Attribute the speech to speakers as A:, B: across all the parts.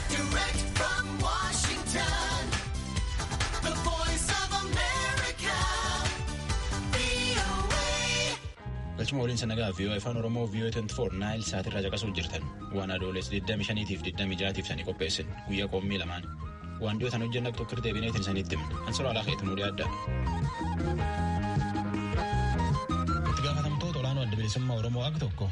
A: Direct from Washington, the voice of America, VOA. Galchuma waliin sanagaa vii'oo afaan Oromoo vii'oo 24 naayil saatirraa caqasuuf jirtan waan adoolees 25 tiif 26 tiif sanii qopheessin guyyaa qoommii lamaan Waan dhiyootan hojjenna tokko irra deebineetiin isanitti himna. Ansura alaa keetu nu dhiyaadda. Itti gaafatamtoota olaanoo adda bilisummaa Oromoo akka tokko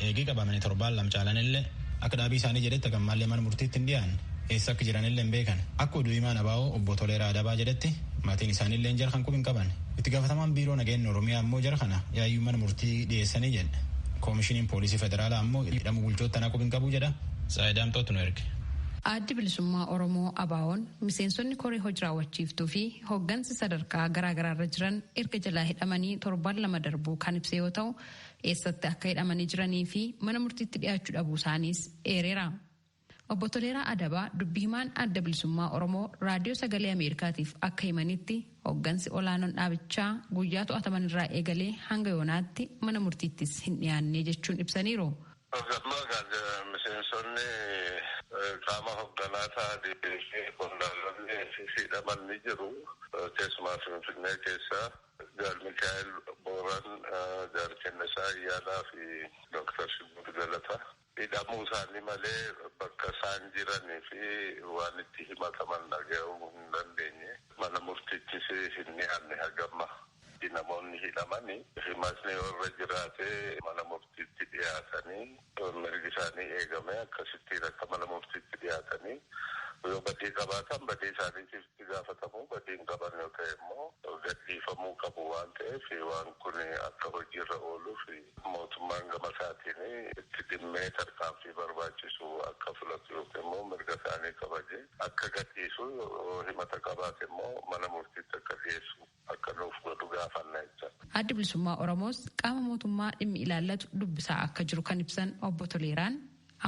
A: eegii qabamanii torbaan lama caalan illee akka dhaabii isaanii jedhetti gammaallee mana murtiitti hin dhiyaanne eessa akka jiran illee hin beekan. Akka oduu himaan abaa'oo obbo Toleeraa Adabaa jedhetti maatiin isaanii illee jara kan qub hin qaban. Itti gaafatamaan biiroo nageenya Oromiyaa ammoo jara kana yaayyuu mana murtii dhiyeessanii jedhe. Koomishiniin poolisii federaalaa ammoo hidhamuu bulchoota tanaa qub hin qabu jedha. Tsahaay Daamxootu nu erge. Addi Bilisummaa
B: Oromoo ABOn miseensonni koree hojiraawwachiiftuu fi hoggansi sadarkaa garaagaraarra jiran erga jalaa hidhamanii torbaan lama darbuu kan ibse yoo ta'u, eessatti akka hidhamanii jiranii fi mana murtiitti dhiyaachuu dhabuusaaniis eereera. Obbo Toleeraa Adabaa dubbi himaan Adda Bilisummaa Oromoo Raadiyoo Sagalee Ameerikaatiif akka himanitti hoggansi olaanoon dhaabichaa guyyaa to'atamanirraa eegalee hanga yoonaatti mana murtiittis hin dhiyaanne jechuun ibsaniiru. Paarlaamaa kan jedhan miseensonni
C: qaama hogganaa ta'anii fi qondaalonni hidhaman ni jiru. Keessumaa Finfinnee keessa Gaalmikaa'el Booran, Jaal Kennisaa Ayyaanaa fi Doktar Shugguut Galataa hidhamuu isaanii malee bakka isaan jiranii fi waan itti himataman dhaga'uu hin dandeenye. Mana murtiittis hin dhiyaanne haga ammaa. Namoonni hidhaman himatni yoo irra jiraate mana murtiitti dhiyaatanii mirgi isaanii eegamee akkasittiin akka mana murtiitti dhiyaatanii yoo badii qabaatan badii isaaniitiif itti gaafatamu, badii hin qaban yoo ta'e immoo gadhiifamuu qabu waan ta'eef waan kun akka hojiirra ooluuf mootummaan gama isaatiin itti dhimmee tarkaanfii barbaachisu akka fudhatu yookiin immoo mirga isaanii kabajee akka gadhiisu yoo himata qabaate immoo mana murtiitti akka dhiyeessu. akka nuuf godhu gaafanna jechan. Addi Bilisummaa
B: Oromoos qaama mootummaa dhimmi ilaallatu dubbisaa akka jiru kan ibsan Obbo Toleeraan,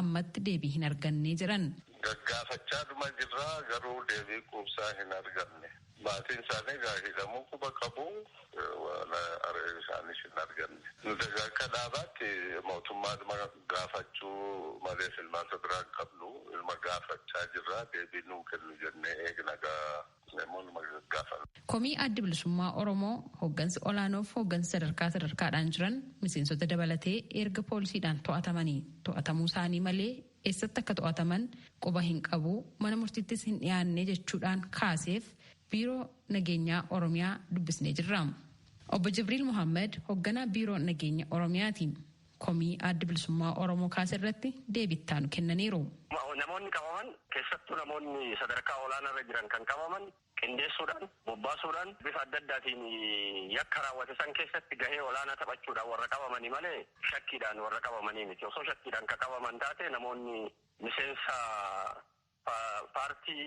B: ammatti deebii hin arganne jedhan. Gaggaafachaadhuma
C: jirra, garuu deebii quubsaa hin arganne. Maatiin isaanii egaa hidhamuu quba qabu, waan aree isaaniis hin arganne. Nuti egaa akka dhaabaatti mootummaadhuma gaafachuu malee filmaata biraa hin qabnu. Inuma gaafachaa jirra, deebii nuu kennu jennee eegna egaa.
B: Komii Addi Bilisummaa Oromoo hoggansi olaanoof hoggansi sadarkaa sadarkaadhaan jiran miseensota dabalatee erga poolisiidhaan to'atamanii to'atamuu isaanii malee eessatti akka to'ataman quba hin qabu mana murtiittis hin dhiyaanne jechuudhaan kaaseef biiroo nageenyaa Oromiyaa dubbisnee jirra. Obbo Jibriil Mohaammed hogganaa biiroo nageenya Oromiyaati. komii Addi Bilisummaa Oromoo kaase irratti deebii itti aanu kennaniiru. Namoonni qabaman
D: keessattuu namoonni sadarkaa olaanaa irra jiran kan qabaman qindeessuudhaan, bobbaasuudhaan bifa adda addaatiin yakka raawwate san keessatti gahee olaanaa taphachuudhaan warra qabamani malee shakkiidhaan warra qabamanii miti. Osoo shakkiidhaan ka qabaman taate namoonni miseensa paartii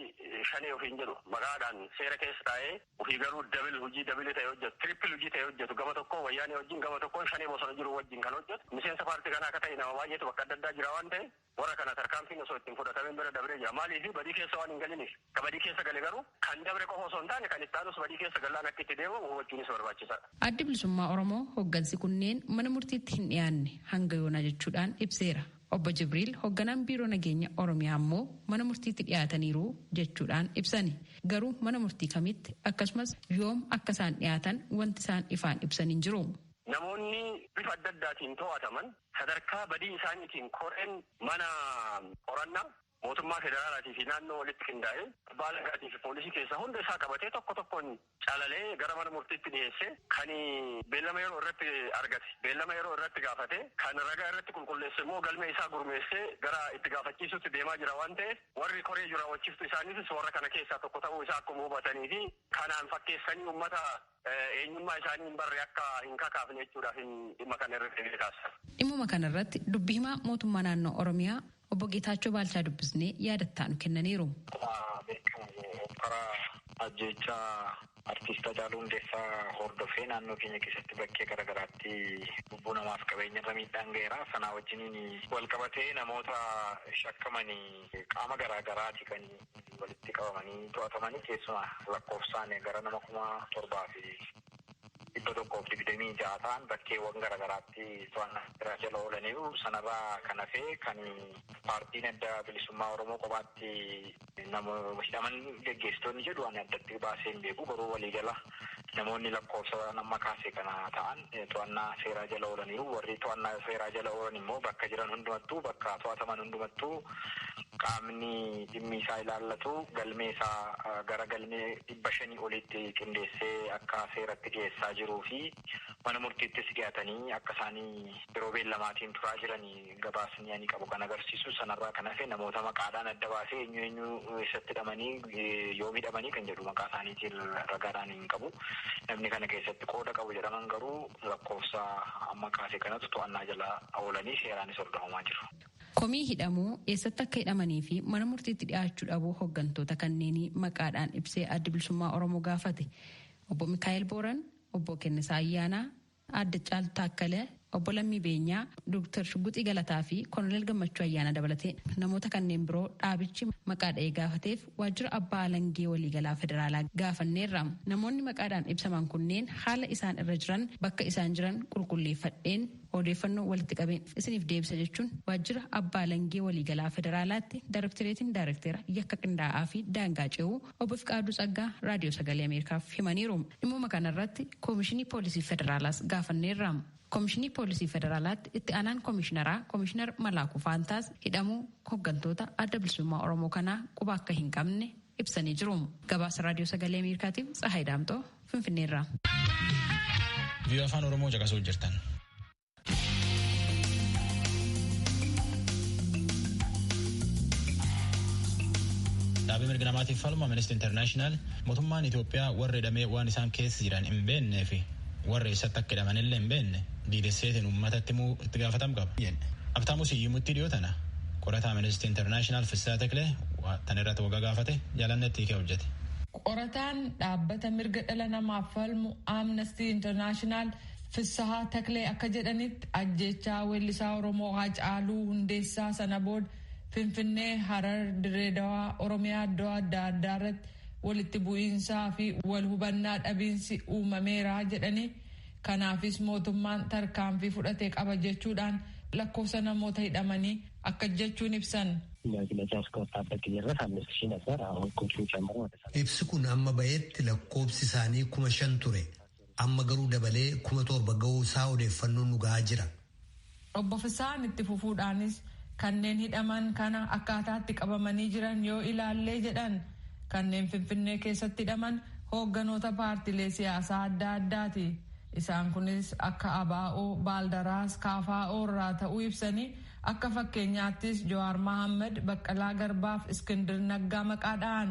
D: shanee ofiin jedhu maqaadhaan seera keessa taa'ee ofii garuu double hojii double ta'e hojjetu triple hojii ta'e hojjetu gama tokkoo wayyaanee wajjin gama tokkoon shanee bosona jiru wajjin kan hojjetu miseensa paartii kanaa akka ta'e nama baay'eetu bakka adda addaa jira waan ta'e warra kana tarkaanfiin osoo ittiin fudhatamin bira dabree jira maaliif badii keessa waan hin galiniif ka badii keessa gale garuu kan dabre qofa osoo hin taane kan itti aanus badii keessa gallaan akka itti deemamu hubachuunis barbaachisaadha. Addi Bilisummaa Oromoo
B: hoggansi kunneen mana murtiitti hin dhiyaanne hanga yoonaa jechuudhaan ibseera. Obbo Jibriil hogganaan Biiroo Nageenya Oromiyaa ammoo mana murtiitti dhiyaataniiru jechuudhaan ibsani. Garuu mana murtii kamitti akkasumas yoom akka isaan dhiyaatan wanti isaan ifaan ibsan hin jiru. Namoonni
D: bifa adda addaatiin to'ataman sadarkaa badii isaaniitiin koreen mana qorannaa mootummaa federaalaatii fi naannoo walitti qindaa'e, abbaa alangaatii fi poolisii keessaa hunda isaa qabatee tokko tokkoon calalee gara mana murtiitti dhiyeessee kan beellama yeroo irratti argate beellama yeroo irratti gaafatee kan ragaa irratti qulqulleesse immoo galmee isaa gurmeessee gara itti gaafachiisuutti deemaa jira waan ta'eef warri koree hojiraawwachiiftuu isaaniifis warra kana keessaa tokko ta'uu isaa akkuma hubatanii fi kanaan fakkeessanii ummata eenyummaa isaanii hin barre akka hin kakaafne jechuudhaafin dhimma kana irra deebi'ee kaasa. Dhimmuma kana irratti
B: dubbi himaa mootummaa naannoo Oromiyaa obbo Geetaachoo Baalchaa dubbisnee yaada itti aanu kennaniiru. Akkuma beekamu
E: hokkara ajjeechaa Artiist Hacaaluu Hundeessaa hordofee naannoo keenya keessatti bakkee gara garaatti lubbuu namaaf qabeenya irra miidhaan gaheera. Sanaa wajjiniin wal qabatee namoota shakkamani qaama garaa garaati kan walitti qabamanii to'atamanii keessumaa lakkoofsaan gara nama 7,126 ta'an bakkeewwan gara garaatti to'annaa seeraa jala oolaniiru. Sanarraa kan hafe kan Paartiin Adda Bilisummaa Oromoo kophaatti namoota hidhaman geggeessitoonni jedhu ani addatti baasee hin beeku. Garuu waliigala Namoonni lakkoofsa amma kaase kana ta'an to'annaa seeraa jala oolaniiru. Warri to'annaa seeraa jala oolan immoo bakka jiran hundumattuu, bakka to'ataman hundumattuu qaamni dhimmi isaa ilaallatu galmee isaa gara galmee dhibba shanii oliitti qindeessee akka seeratti dhiyeessaa jiruu fi mana murtiittis dhiyaatanii akka isaan yeroo beellamaatiin turaa jiran Gabaasni ani qabu kan agarsiisu sanarraa kan hafe namoota maqaadhaan adda baasee eenyu eenyu eessatti hidhamanii yoom hidhamanii kan jedhu maqaa isaaniitiin ragaadhaan hin qabu. Namni kana keessatti qooda qabu jedhaman garuu lakkoofsa amma kaase kanatu to'annaa jala oolanii seeraanis hordofamaa jiru. Komii hidhamuu,
B: eessatti akka hidhamanii fi mana murtiitti dhiyaachuu dhabuu hoggantoota kanneenii maqaadhaan ibsee Addi Bilisummaa Oromoo gaafate. Obbo Mikaa'el Booran, Obbo Kennisaa Ayyaanaa, Aadde Caaltu Taakkale, Obbo Lammii Beenyaa, Dooktar Shugguxii Galataa fi Koloneel Gammachuu Ayyaanaa dabalatee namoota kanneen biroo dhaabichi maqaa dha'ee gaafateef waajjira Abbaa Alangee Waliigalaa Federaalaa gaafanneerra. Namoonni maqaadhaan ibsaman kunneen haala isaan irra jiran bakka isaan jiran qulqulleeffadheen odeeffannoo walitti qabeen isiniif deebisa jechuun waajjira Abbaa Alangee Waliigalaa Federaalaatti Daarektoreetiin Daarekteera Yakka Qindaa'aa fi Daangaa Ce'uu Obbo Fiqaaduu Tsaggaa Raadiyoo Sagalee Ameerikaaf himaniiru. Dhimmuma kanarratti Koomishinii Poolisii Federaalaas gaafanneerra. Koomishinii Poolisii Federaalaatti itti aanaan Koomishiinaraa Koomishiinar Malaakuu Faantaas hidhamuu hoggantoota adda bilisummaa Oromoo kanaa quba akka hin qabne ibsanii jiru. Gabaasa Raadiyoo Sagalee Ameerikaatiif Tsahaay Daamxoo Finfinneerra.
A: Vii'oo afaan Oromoo caqasuu jirtan. Dhaabbii mirga namaatiif falmu Amnesty International mootummaan Itoophiyaa warri hidhamee waan isaan keessa jiran hin beeknee fi warri eessatti akka hidhaman illee hin beekne diidesseetiin uummatatti immoo itti gaafatam qaba. Abtaamu Siyyumuttii dhiyoo tana qorataa Amnesty International Fissaa Teklee tan irratti waggaa gaafate jaalannetti hiikee hojjete. Qorataan
F: dhaabbata mirga dhala namaaf falmu Amnesty International Fissahaa Taklee akka jedhanitti ajjeechaa weellisaa Oromoo Haacaaluu Hundeessaa sana booda Finfinnee, Harar, Dirree Dawaa, Oromiyaa iddoo adda addaa irratti walitti bu'iinsaa fi wal hubannaa dhabiinsi uumameera jedhanii kanaafis mootummaan tarkaanfii fudhate qaba jechuudhaan lakkoofsa namoota hidhamanii akkas jechuun ibsan.
G: Ibsi kun amma bahetti lakkoofsi isaanii kuma shan ture. Amma garuu dabalee kuma torba ga'uu isaa odeeffannoon nu ga'aa jira. Obbo
F: Fissahaan itti fufuudhaanis kanneen hidhaman kana akkaataa itti qabamanii jiran yoo ilaallee jedhan kanneen Finfinnee keessatti hidhaman hoogganoota paartilee siyaasaa adda addaati. Isaan kunis akka ABO, Baaldaraas, KFO irraa ta'uu ibsanii akka fakkeenyaattis Jawaar Mahaammad, Baqqalaa Garbaaf Iskindir Naggaa maqaa dha'an.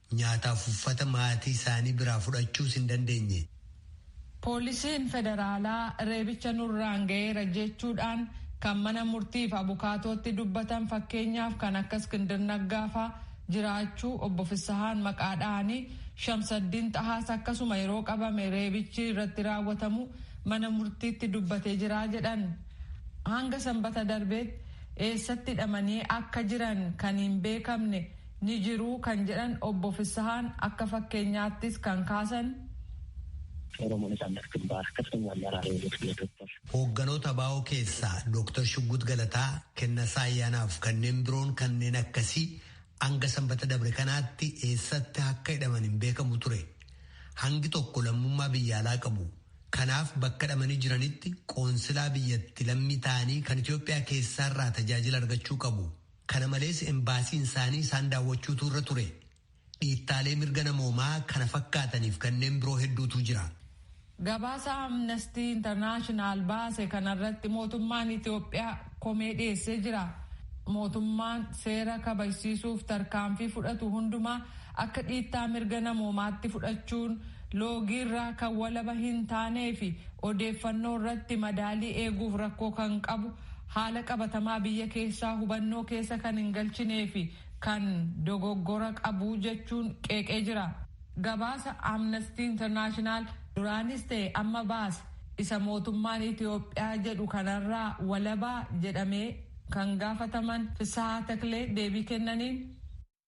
G: Nyaataaf uffata maatii isaanii biraa fudhachuus hin dandeenye. Poolisiin
F: federaalaa reebicha nurraan ga'eera jechuudhaan kan mana murtiif abukaatootti dubbatan fakkeenyaaf kan akka Iskindir Naggaa faa jiraachuu obbo Fissahaan maqaa dhahanii Shamsaddiin Xahaas akkasuma yeroo qabame reebichi irratti raawwatamuu mana murtiitti dubbatee jira jedhan. Hanga Sanbata darbeetti eessatti hidhamanii akka jiran kan hin beekamne ni jiru kan jedhan Obbo Fissahaan akka fakkeenyaattis kan kaasan. Oromoo Natsaannat Gimbaar Kaftanyaa Ammaraa
G: Reewoot Biyya Dooktar. Hoogganoota ABO keessaa Dooktar Shuggut Galataa, Kennasaa Ayyaanaaf kanneen biroon kanneen akkasii hanga sanbata dabre kanaatti eessatti akka hidhaman hin beekamu ture. Hangi tokko lammummaa biyya alaa qabu. Kanaaf bakka hidhamanii jiranitti qoonsilaa biyyatti lammii ta'anii kan Itoophiyaa keessaarraa tajaajila argachuu qabu. Kana malees embaasiin isaanii isaan daawwachuutu irra ture. Dhiittaalee mirga namoomaa kana fakkaataniif kanneen biroo hedduutu jira. Gabaasa
F: Amnestii Intarnaashinaal baase kanarratti mootummaan Itoophiyaa komee dhiyeessee jira. Mootummaan seera kabajsiisuuf tarkaanfii fudhatu hundumaa akka dhiittaa mirga namoomaatti fudhachuun loogiirraa kan walaba hin taaneefi odeeffannoo irratti madaalii eeguuf rakkoo kan qabu Haala qabatamaa biyya keessaa hubannoo keessa kan hin galchinee fi kan dogoggora qabu jechuun qeeqee jira. Gabaasa Amnesty International duraanis ta'e amma baase isa mootummaan Itoophiyaa jedhu kanarraa walabaa jedhamee kan gaafataman Fissahaa Taklee deebii kennaniin,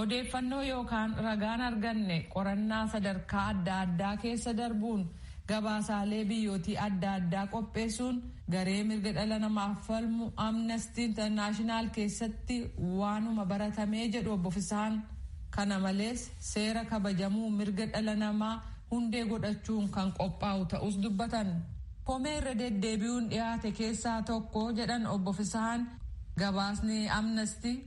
G: Odeeffannoo
F: yookaan ragaan arganne qorannaa sadarkaa adda addaa keessa darbuun gabaasaalee biyyootii adda addaa qopheessuun garee mirga dhala namaaf falmu Amnesty International keessatti waanuma baratamee jedhu Obbo Fissahaan. Kana malees seera kabajamuu mirga dhala namaa hundee godhachuun kan qophaa'u ta'uus dubbatan. Komee irra deddeebi'uun dhiyaate keessaa tokko jedhan Obbo Fissahaan gabaasni Amnesty.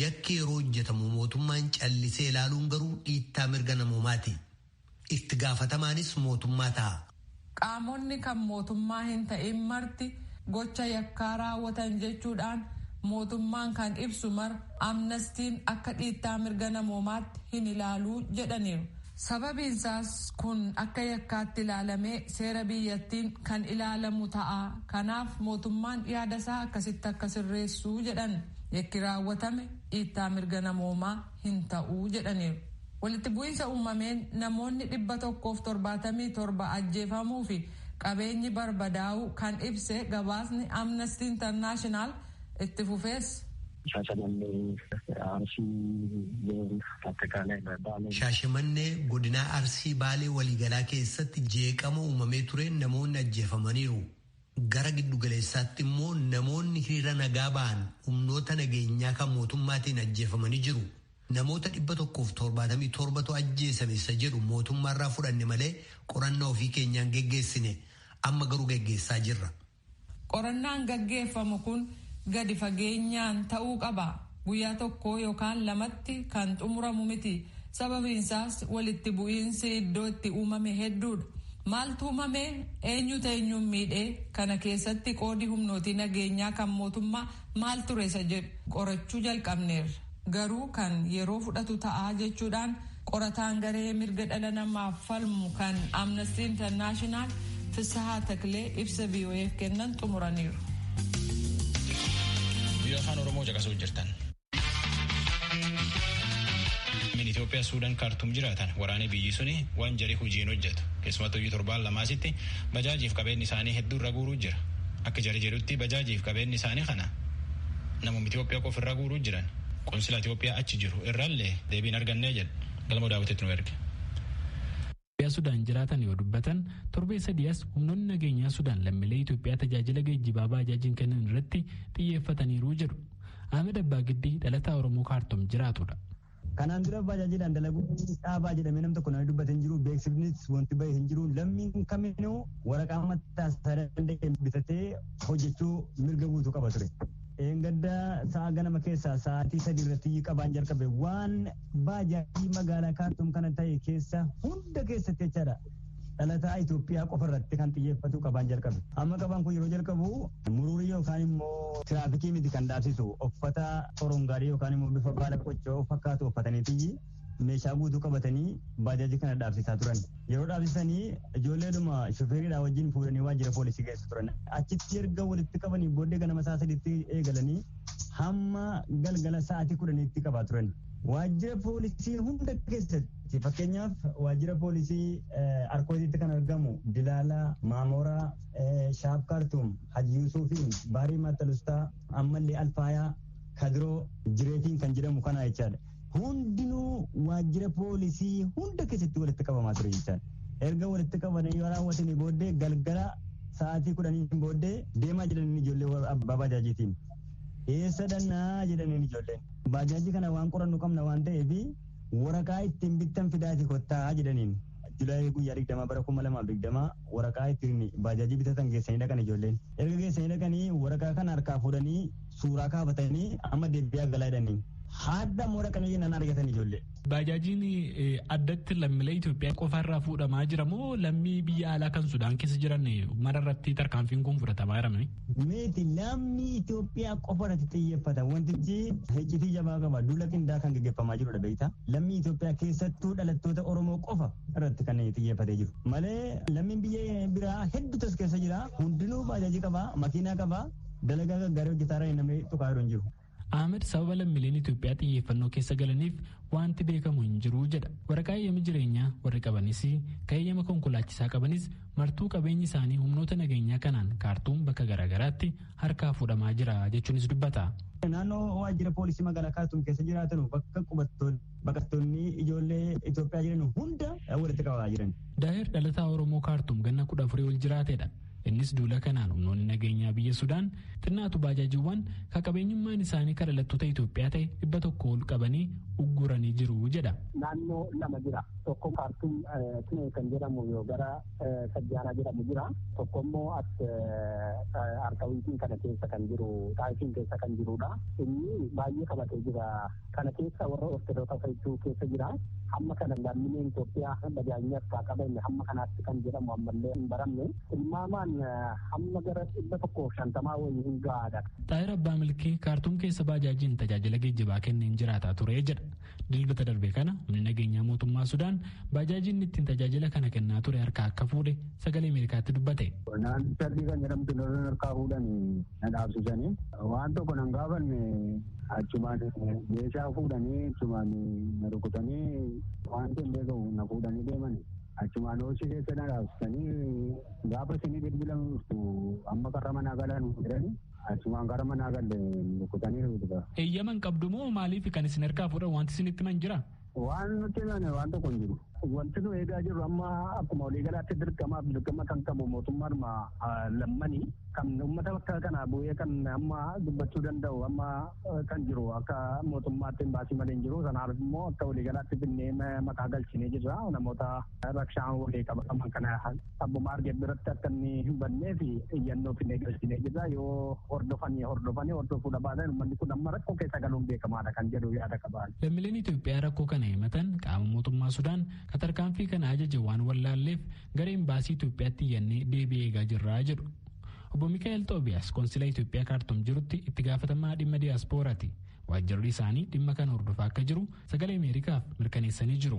G: Yakki yeroo hojjetamu mootummaan callisee ilaaluun garuu dhiittaa mirga namoomaati. Itti gaafatamaanis mootummaa ta'a. Qaamonni
F: kan mootummaa hin ta'in marti gocha yakkaa raawwatan jechuudhaan mootummaan kan ibsu mara Amnastiin akka dhiittaa mirga namoomaatti hin ilaalu jedhaniiru. Sababiin isaas kun akka yakkaatti ilaalamee seera biyyattiin kan ilaalamu ta'a. Kanaaf mootummaan yaada isaa akkasitti akka sirreessu jedhan. Yakki raawwatame dhiittaa mirga namoomaa hin ta'u jedhaniiru. Walitti bu'iinsa uumameen namoonni dhibba tokkoo fi torbaatamii torba ajjeefamuu fi qabeenyi barbadaa'uu kan ibse gabaasni Amnesty International itti fufees, Shaashamannee,
G: Arsii, Attaaqaalay Baalee. Shaashamannee godinaa Arsii Baalee waliigalaa keessatti jeeqama uumamee tureen namoonni ajjeefamaniiru. Gara giddugaleessaatti immoo namoonni hiriira nagaa ba'an humnoota nageenyaa kan mootummaatiin ajjeefamanii jiru. Namoota 177tu ajjeesame isa jedhu mootummaarraa fudhanne malee qorannaa ofii keenyaan geggeessine. Amma garuu geggeessaa jirra. Qorannaan
F: gaggeeffamu kun gadi fageenyaan ta'uu qaba. Guyyaa tokkoo yookaan lamatti kan xumuramu miti. Sababiinsaas walitti bu'iinsi iddoo itti uumame hedduudha. Maaltu uumame? Eenyutu eenyuun miidhe? Kana keessatti qoodi humnootii nageenyaa kan mootummaa maal ture isa jedhu qorachuu jalqabneerra. garuu kan yeroo fudhatu ta'a jechuudhaan qorataan garee mirga dhala namaaf falmu kan Amnesty International Fissahaa Taklee ibsa VOA'f kennan xumuraniiru.
A: Biyya afaan Oromoo caqasuu jirtan. Min Itoophiyaa Suudaan kaartuum jiraatan waraanee biyyi suni waan jarii hojiin hojjetu keessumattuu iyyuu torbaan lamaasitti bajaajiif qabeenyi isaanii hedduurra guuruu jira. Akka jarii jedhutti bajaajiif qabeenyi isaanii kana Namum Itoophiyaa qofa irraa guuruu jiran qonsila Itoophiyaa achi jiru irraallee deebiin argannee jedha. Galmoo daawwitetti nu erge. Itoophiyaa
H: Sudaan jiraatan yoo dubbatan torbee sadii as humnoonni nageenyaa Sudaan lammiilee Itoophiyaa tajaajila geejjibaa baajaajiin kennan irratti xiyyeeffataniiru jedhu. Ahmed Abbaa Giddii dhalataa Oromoo Kaartum jiraatudha. Kanaan dura
I: baajaajiidhaan dalaguun dhaabaa jedhamee nam tokko namni dubbate hin jiru beeksifnis wanti bahe hin jiru lammiin kaminuu waraqaa mataa isaa danda'e bitatee hojjechuu mirga guutuu qaba ture. Eeggadda sa'a ganama keessaa sa'aatii sadii irratti qabaan jalqabe waan baajaajii magaalaa kaartuum kana ta'e keessa hunda keessatti jechaadha. Dhalataa Itoophiyaa qofa irratti kan xiyyeeffatu qabaan jalqabe. Amma qabaan kun yeroo jalqabu muruurii yookaan immoo tiraafikii miti kan dhaabsisu uffata korongaarii yookaan immoo bifa baala qoccoo fakkaatu uffataniitii meeshaa guutuu qabatanii baajaajii kana dhaabsisaa turan. Yeroo dhaabsisanii ijoolleedhuma shufeeridhaa wajjin fuudhanii waajjira poolisii geessu turan. Achitti erga walitti qabanii booddee ganama isaa sadiitti eegalanii hamma galgala sa'aatii kudhaniitti qabaa turan. Waajjira poolisii hunda keessatti fakkeenyaaf waajjira poolisii Arkootiitti kan argamu Dilaalaa, Maamoraa, Shaaf Kaartuum, Haji Yuusuufiin, Baarii Maatalustaa, ammallee Alfaayaa, Kadiroo, Jireetiin kan jedhamu kana jechaadha. Hundinuu waajjira poolisii hunda keessatti walitti qabamaa ture jechaadha. Erga walitti qabanii yoo raawwatanii booddee galgala sa'aatii kudhaniin booddee deemaa jiran ijoollee abbaa baajaajiitiin. Eessa dhannaa jedhaniin ijoolleen. Baajaajii kana waan qorannu qabna waan ta'eef waraqaa ittiin bittan fidaati kottaa jedhaniin. Julaayii guyyaa digdamaa bara kuma lamaaf digdamaa waraqaa ittiin baajaajii bitatan geessanii dhaqan ijoolleen. Erga geessanii dhaqanii waraqaa kana harkaa fuudhanii suuraa kaafatanii amma deebi'aa galaa jedhanii. Haadha immoo dhaqanii jennaan argatan ijoollee. Baajaajiin
H: addatti lammiilee Itoophiyaa qofaarraa fuudhamaa jira moo lammii biyya alaa kan Sudaan keessa jiran mararratti tarkaanfiin kun fudhatamaa jira? Miti lammii
I: Itoophiyaa qofa irratti xiyyeeffata. Wantichi hiccitii jabaa qaba. Duula qindaa kan gaggeeffamaa jirudha beektaa. Lammii Itoophiyaa keessattuu dhalattoota Oromoo qofa irratti kan xiyyeeffatee jiru. Malee lammiin biyya biraa hedduutu as keessa jira. Hundinuu baajajii qaba, makiinaa qaba, dalagaa gaggaarii hojjetaa irra namni tuqaa jiru hin jiru. Ahmed sababa
H: lammiileen Itoophiyaa xiyyeeffannoo keessa galaniif wanti beekamu hin jiru jedha. Waraqaa eeyyama jireenyaa warri qabanis kan eeyyama konkolaachisaa qabanis martuu qabeenyi isaanii humnoota nageenyaa kanaan kaartuun bakka garaagaraatti harkaa fuudhamaa jira jechuunis dubbata. Naannoo waajjira
I: poolisii magaalaa Kaartuum keessa jiraatan bakka qubattoonni baqattoonni ijoollee Itoophiyaa jiran hunda walitti qabaa jiran. Daahir dhalataa Oromoo
H: Kaartuum ganna kudha afurii ol jiraatedha. Innis duula kanaan humnoonni nageenyaa biyya Sudaan xinnaatu baajaajiiwwan ka qabeenyummaan isaanii ka dhalattoota Itoophiyaa ta'e dhibba tokko ol qabanii ugguranii jiru jedha. Naannoo lama
J: jira. Tokko kaartuun Tinee kan jedhamu yoo gara Sajjaanaa jedhamu jira. Tokko immoo as Arkawiitiin kana keessa kan jiru Xaayifiin keessa kan jirudha. Inni baay'ee qabatee jira. Kana keessa warra Ortodoka faytuu keessa jira. Hamma kana lammileen Itoophiyaa dhagaanyee akka qaban hamma kanaatti kan jedhamu ammallee hin baramne. Tilmaamaan hamma gara dhibba tokkoof shantamaa wayii hin gahaadha. Xaahir Abbaa Milkii
H: Kaartuum keessa baajaajiin tajaajila geejjibaa kenneen jiraataa ture jedha. Dilbata darbe kana humni nageenyaa mootummaa Sudaan baajaajiin ittiin tajaajila kana kennaa ture harkaa akka fuudhe sagalee Ameerikaatti dubbate. Naannicha Albii kan
J: jedhamtu lolan harkaa fuudhanii na dhaabsisanii waan tokko nan gaafanne achumaan meeshaa fuudhanii achumaan na rukutanii waan hin beekamu na fuudhanii deeman achumaan hooshi keessa na dhaabsisanii gaafa isinii bilbilamu dhuftu amma karra manaa galaa nu jedhanii achumaan karra manaa galle rukutanii na butuba. Eeyyama hin qabdu moo
H: maaliif kan isin harkaa fuudhan wanti isinitti himan jira? Waan nutti himame
J: waan tokko hin jiru. Wanti nu eegaa jirru amma akkuma waliigalaatti dirqamaaf dirqama kan qabu mootummaadhuma lammani kan uummata bakka kana bu'ee kan amma dubbachuu danda'u amma kan jiru akka mootummaatti hin baasii malee hin jiru sanaaf immoo akka waliigalaatti finnee maqaa galchinee jirra namoota rakshaan walii qabaman kana abbuma arge biratti akka inni hin bannee fi iyyannoo finnee galchinee jirra yoo hordofanii hordofanii hordofuu dhabaatan uummanni kun amma rakkoo keessa galuun beekamaadha kan jedhu yaada qabaan. Lammileen Itoophiyaa rakkoo
H: kana himatan qaama mootummaa Sudaan ka tarkaanfii kana ajaje waan wallaalleef gara imbaasii Itoophiyaatti iyyannee deebii eegaa jirra jedhu. Obbo Mikaa'el Xoobiyaas konsila Itoophiyaa kaartum jirutti itti gaafatamaa dhimma diyaaspooraati. Waajjirri isaanii dhimma kana hordofaa akka jiru sagalee Ameerikaaf mirkaneessanii jiru.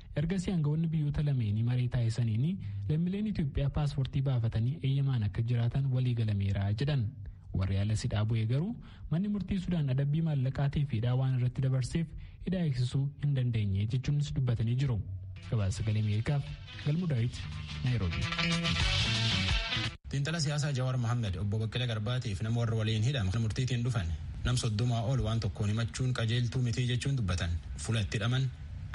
H: Ergasii aangawoonni biyyoota lameenii maree taasisaniin lammileen Itoophiyaa paaspoortii baafatanii eeyyamaan akka jiraatan walii galameera jedhan. Warri alas hidhaa bu'ee garuu manni murtii Sudaan adabbii maallaqaatii fi hidhaa waan irratti dabarseef hidhaa eegsisuu hin dandeenye jechuunis dubbatanii jiru. Gabaasa sagalee Ameerikaaf Galmuu Daawit Naayiroobii.
A: Xiinxala siyaasaa Jawaar Mohaammed obbo Baqqalee Garbaatiif nama warra waliin hidhama murtiitiin dhufan nam soddomaa ol waan tokkoon himachuun qajeeltuu mitii jechuun dubbatan fuula itti hidhaman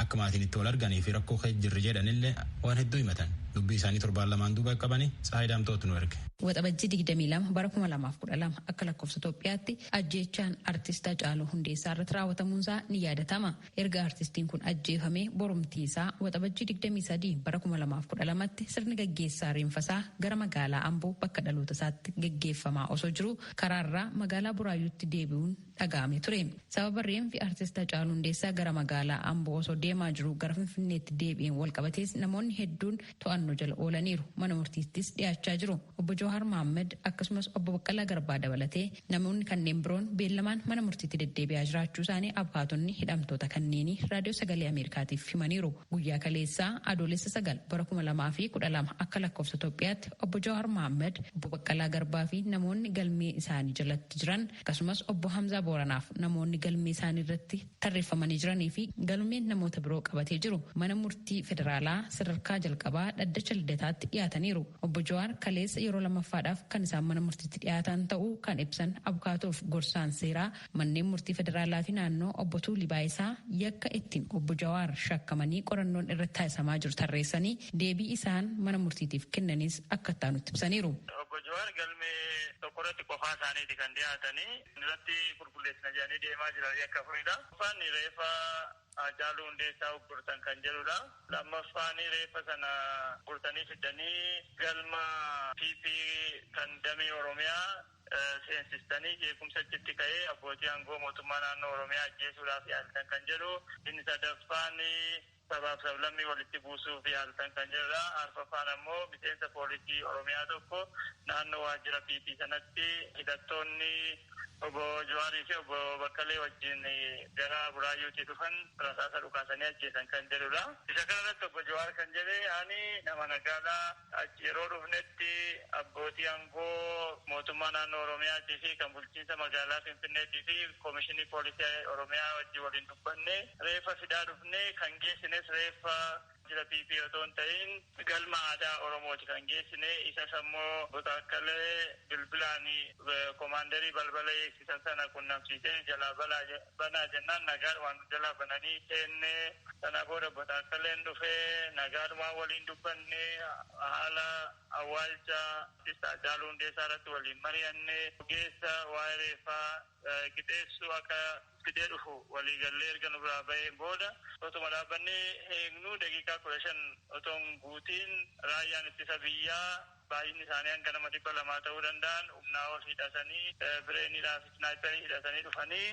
A: Akka maatiin itti wal arganii fi rakkoo keessa jirri jedhanille waan hedduu himatan. Dubbii isaanii torbaan lamaan duuba qaqqabani Tsahaay Daamxootu nu erge. Waxabajjii 22
B: bara 2012 akka lakkoofsa Itoophiyaatti ajjeechaan artist Hacaaluu Hundeessaa irratti raawwatamuunsaa ni yaadatama. Erga artistiin kun ajjeefamee borumtiisaa Waxabajjii 23 bara 2012tti sirni gaggeessaa reenfasaa gara magaalaa Amboo bakka dhalootasaatti gaggeeffamaa osoo jiruu karaarraa magaalaa Buraayyuutti deebi'uun dhaga'amee ture. Sababa reenfi Artist Hacaaluu Hundeessaa gara magaalaa Amboo osoo deemaa jiruu gara Finfinneetti deebi'een walqabatees namoonni hedduun to'annoo jala oolaniiru. Mana murtiittis dhiyaachaa jiru. Obbo Jawaar Mahaammad akkasumas Obbo Baqqalaa Garbaa dabalatee namoonni kanneen biroon beellamaan mana murtiitti deddeebi'aa jiraachuu isaanii abukaatonni hidhamtoota kanneenii Raadiyoo Sagalee Ameerikaatiif himaniiru. Guyyaa kaleessaa Adoolessa sagal bara kuma lamaa fi kudha lama akka lakkoofsa Itoophiyaatti Obbo Jawaar Mahaammad, Obbo Baqqalaa Garbaa fi namoonni galmee isaanii jalatti jiran Akkasumas Obbo Hamzaa Booranaaf namoonni galmee isaanii irratti tarreeffamanii jiranii fi galmeen namoota biroo qabatee jiru mana murtii federaalaa sadarkaa jalqabaa dhaddacha Lidataatti dhiyaataniiru. Obbo Jawaar kaleessa yeroo lammaffaadhaaf kan isaan mana murtiitti dhiyaatan ta'uu kan ibsan abukaatoof gorsaan seeraa manneen murtii federaalaa fi naannoo obbo Tuulii Baayisaa yakka ittiin obbo Jawaar shakkamanii qorannoon irratti taasisamaa jiru tarreessanii deebii isaan mana murtiitiif kennanis akka itti aanutti ibsaniiru. Obbo Jawaar
E: galmee tokko irratti qofaa isaaniiti kan dhiyaatanii. Inni irratti qulqulleessina jedhanii deemaa jiran yakka afuridha. Tokkoffaan reeffa Haacaaluu Hundeessaa uggurtan kan jedhudha. Lammaffaan reeffa sana uggurtanii fiddanii galma PP kan damee Oromiyaa seensistanii jeequmsa achitti ka'ee abbootii aangoo mootummaa naannoo Oromiyaa ajjeesuudhaaf yaaltan kan jedhu. Inni sadaffaan sabaaf sablammii walitti buusuuf yaaltan kan jedhudha. Arfaffaan ammoo miseensa poolisii Oromiyaa tokko naannoo waajjira PP sanatti hidhattoonni Obbo Jawaarii fi Obbo Baqqalee wajjin gara Buraayyuutii dhufan rasaasa dhukaasanii ajjeesan kan jedhudha. Isa kanarratti Obbo Jawaar kan jedhe ani nama nagaadha. Achi yeroo dhufnetti abbootii aangoo mootummaa naannoo Oromiyaatii fi kan bulchiinsa magaalaa Finfinneetii fi Komishinii Poolisii Oromiyaa wajjin waliin dubbannee reeffa fidaa dhufne. Kan geessines reeffa Waajjira PP otoo hin ta'iin Galma Aadaa Oromooti kan geessine. Isas ammoo Obbo Taakkalee bilbilaan komaandarii balbala eegsisan sana qunnamsiisee jalaa balaa Banaa jennaan nagaadhumaan nu jalaa bananii seenne. Sana booda Botaassaleen dhufe. Nagaadhumaan waliin dubbanne. Haala awwaalcha Artist Haacaaluu Hundeessaa irratti waliin mari'anne. Ogeessa waa'ee reeffaa qixeessu akka fidee dhufu walii gallee erga nu biraa baheen booda otuma dhaabbannee eegnuu daqiiqaa 15 otoo hin guutiin Raayyaan Ittisa Biyyaa baay'inni isaanii hanga nama 200 ta'uu danda'an humnaa ol hidhatanii bireenidhaa fi snaayperii hidhatanii dhufanii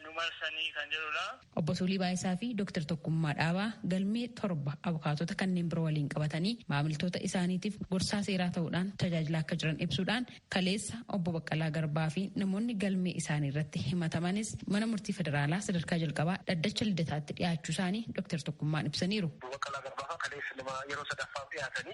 E: nu marsanii kan jedhudha. Obbo Tuulii Baayisaa
B: fi Dr. Tokkummaa Dhaabaa galmee 7 abukaatota kanneen biroo waliin qabatanii maamiltoota isaaniitiif gorsaa seeraa ta'uudhaan tajaajilaa akka jiran ibsuudhaan kaleessa Obbo Baqqalaa Garbaa fi namoonni galmee isaanii irratti himatamanis mana murtii federaalaa sadarkaa jalqabaa dhaddacha Lidataatti dhiyaachuu isaanii Dr. Tokkummaan ibsaniiru. Obbo Baqqalaa Garbaa fa'aa
D: kaleessa nama yeroo sadaffaaf dhiyaatanii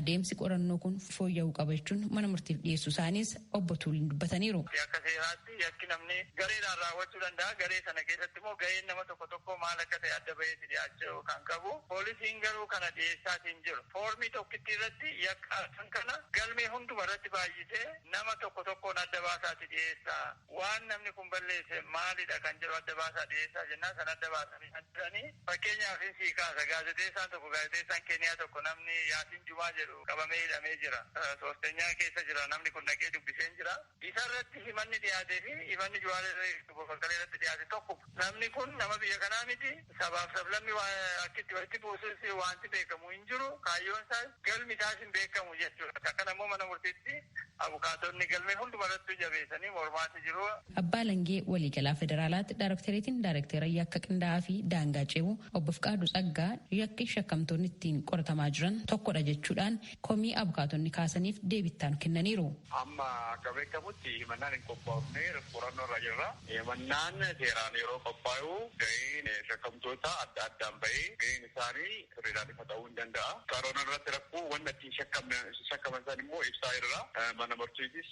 B: Adeemsi qorannoo kun fooyya'uu qaba jechuun mana murtiif dhiyeessuu isaaniis obbo Tuuliin dubbataniiru. Akka seeraatti
E: yakki namni gareedhaan raawwachuu danda'a. Garee sana keessatti immoo gaheen nama tokko tokkoo maal akka ta'e adda baheeti dhiyaachuu kan qabu. Poolisiin garuu kana dhiyeessaati hin jiru. Foormii tokkittii irratti yakka arfan kana galmee hunduma irratti baay'isee nama tokko tokkoon adda baasaati dhiyeessa. Waan namni kun balleesse maalidha kan jedhu adda baasaa dhiyeessaa jennaan sana adda baasanii naan jedhani. Fakkeenyaafin sii kaasa gaazexeessaan tokko gaazexeessaan Keeniyaa tokko namni Yaasiin Jumaa jedhu qabamee hidhamee jira. Soostenyaa keessa jira namni kun dhaqee dubbiseen jira. Isarratti himanni dhiyaateefi himanni Juwaar irra Obbo Baqqalee irratti dhiyaate tokkuma. Namni kun nama biyya kanaa miti. Sabaaf sablammi waa akki itti walitti buusus waanti beekamu hin jiru. Kaayyoon isaas galmi isaas hin beekamu jechuudha. Isa kana immoo mana murtiitti abukaatonni galmee hunduma irrattuu jabeessanii mormaati jiru. Abbaa Alangee
B: Waliigalaa Federaalaatti Daarektereetiin Daarekteera Yakka Qindaa'aa fi Daangaa Ce'uu Obbo Fiqaaduu Tsaggaa yakki shakkamtoonni ittiin qoratamaa jiran tokkodha jechuudhaan komii abukaatonni kaasaniif deebii itti aanu kennaniiru. Amma akka
E: beekamutti himannaan hin qophaofne qorannoo irra jirra. Himannaan seeraan yeroo qophaa'u gaheen shakkamtootaa adda addaan bahee gaheen isaanii sirriidhaan ifa ta'uu hin danda'a. Qorannoo irratti rakkoo wanna ittiin shakkaman san immoo ibsaa jirra. Mana murtiitis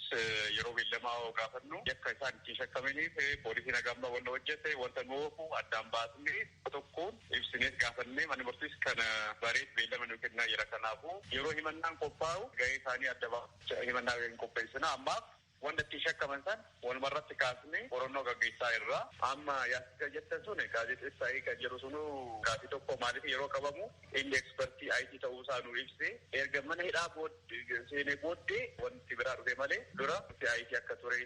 E: yeroo beellamaa yoo gaafannu yakka isaan ittiin shakkamaniif poolisiin haga amma wanna hojjete wanta nu oofu addaan baasnee tokkoon ibsinees gaafannee manni murtiis kana bareet beellama nuu kennaa jira kanaafu yeroo himannaan qophaa'u gahee isaanii adda baafachaa himannaa in qopheessina ammaaf wanta ittiin shakkaman san waluma irratti kaasnee qorannoo gaggeessaa jirra. Amma yaassicha jettan sun gaazexessaa eega jedhu sunuu gaafii tokko maaliif yeroo qabamu inni expertii IT ta'uu isaa nuu ibsee erga mana hidhaa bood seenee booddee wanti biraa dhufee malee dura IT akka turee,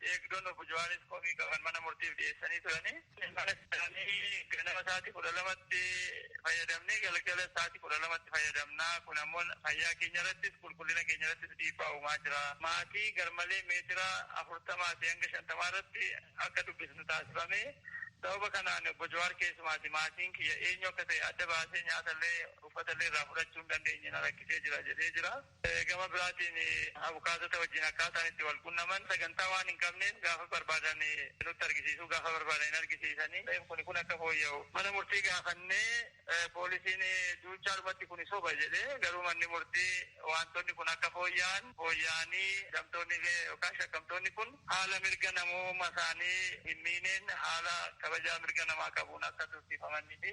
E: Eegdoon Obbo Jawaaris komii qaban mana murtiif dhiyeessanii turani. Mana isaanii ganama sa'aatii 12tti fayyadamne, galgalas sa'aatii 12tti fayyadamna. Kun ammoo fayyaa keenya irrattis, qulqullina keenya irrattis dhiibbaa uumaa jira. Maatii garmalee meetira 40fi hanga 50 irratti akka dubbisnu taasifame. Sababa kanaan Obbo Jawaar keessumaati maatiin kiyya eenyu akka ta'e adda baasee nyaatallee uffatallee irraa fudhachuu hin dandeenye na rakkisee jira jedhee jira. Gama biraatiin abukaatota wajjin akkaataan itti wal qunnaman sagantaa waan hin qabneef gaafa barbaadan nutti argisiisu, gaafa barbaadan hin argisiisani. Ta'eef kuni kun akka fooyya'u mana murtii gaafannee poolisiin duuchaadhumatti kuni soba jedhe. Garuu manni murtii waantonni kun akka fooyya'an, fooyya'anii hidhamtoonni yookaan shakkamtoonni kun haala mirga namoomasaanii hin miineen haala kabajaa mirga namaa qabuun akka tursiifamanii fi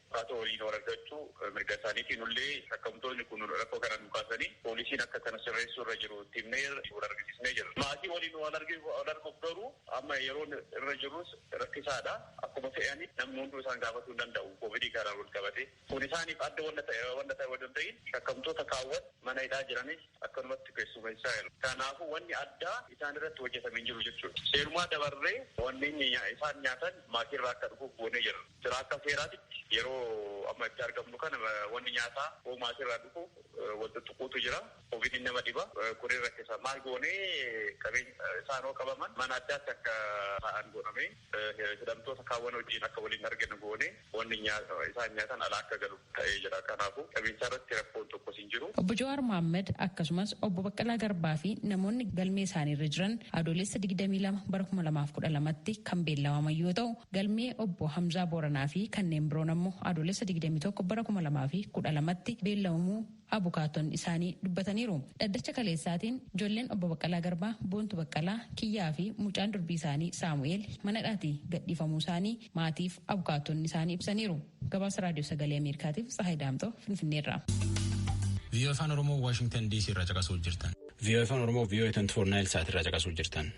E: Kaatoo waliin wal argachuu mirga isaaniiti. Nullee shakkamtoonni kun rakkoo kana nuu kaasanii poolisiin akka kana sirreessuu irra jiru itti himneerra, wal argisiisnee jirra. Maatii waliin wal arguuf garuu amma yeroon irra jirrus rakkisaadha. Akkuma fe'anii namni hunduu isaan gaafatuu hin danda'u koovidii kanaan wal qabatee. Kun isaaniif adda wanna ta'e odoo hin ta'iin shakkamtoota kaawwan mana hidhaa jiranis akkanumatti keessumeessaa jiru. Kanaafuu wanni addaa isaan irratti hojjetame hin jiru jechuudha. Seerumaa dabarree wanneen isaan nyaatan maatii irraa akka dhufuuf goonee jirra. Jira akka seeraatitti yeroo amma itti argamnu kana wanni nyaataa hoo maatiirraa dhufu wal xuxxuquutu jira. Kovidiin nama dhiba. Kunin rakkisa. Maal goonee qabeenya isaan hoo qabaman mana addaatti akka taa'an godhamee hidhamtoota kaawwan wajjiin akka wal hin argine goonee wanni isaan nyaatan alaa akka galu. ta'ee jira. Kanaafuu qabiinsaa irratti rakkoon tokkos hin jiru. Obbo Jawaar Mohaammed
B: akkasumas Obbo Baqqalaa Garbaa fi namoonni galmee isaanii irra jiran Adoolessa 22 bara 2012tti kan beellamaman yoo ta'u, galmee Obbo Hamzaa Booranaa fi kanneen biroon ammoo Adoolessa 21 bara 2012tti beellamamuu abukaatonni isaanii dubbataniiru. Dhaddacha kaleessaatiin ijoolleen Obbo Baqqalaa Garbaa, Boontu Baqqalaa, Kiyyaa fi mucaan durbii isaanii Saamu'eel mana hidhaatii gadhiifamuu isaanii maatiif abukaatonni isaanii ibsaniiru. Gabaasa Raadiyoo Sagalee Ameerikaatiif Tsahaay Daamxoo Finfinneerraa.
A: VOA Afaan Oromoo Waashingtan DC irraa caqasuu jirtan. VOA Afaan Oromoo VOA 24 Naayil Saat irraa caqasuu jirtan.